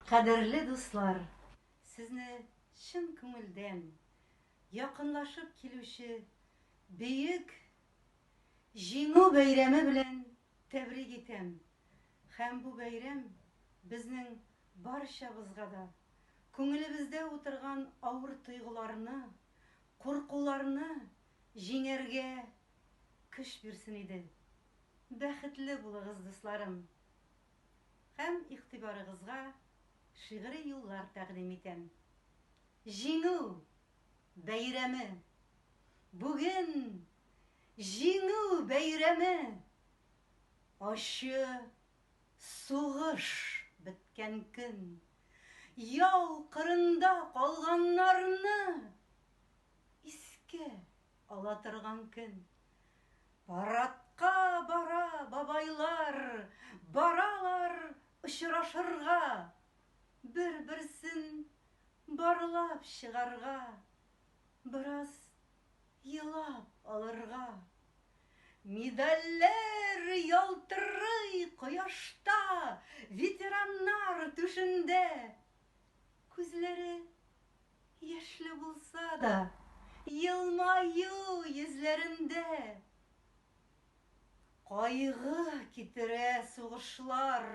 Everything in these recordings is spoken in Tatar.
Кадерле дуслар, сезне чын күңелдән якынлашып килүче Бөек Җиңү бәйрәме белән тәбрик итәм һәм бу бәйрәм безнең барчабызга да күңелебездә утырган авыр тойгыларны, куркуларны җиңәргә көч бирсен иде. Бәхетле булыгыз, дусларым! һәм игътибарыгызга шигъри юллар тәкъдим итәм. Җиңү бәйрәме! Бүген Җиңү бәйрәме! Ачы сугыш беткән көн. Яу кырында калганнарны искә Ала торган көн. Парадка бара бабайлар, Баралар очрашырга, Бер-берсен барлап чыгарга, Бераз елап алырга. Медальләр ялтырый кояшта, Ветераннар түшендә. Күзләре. Яшьле булса да, елмаю йөзләрендә. Кайгы китерә сугышлар,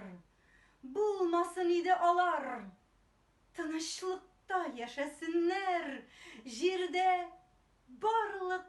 булмасын иде алар. Тынычлыкта яшәсеннәр, җирдә барлык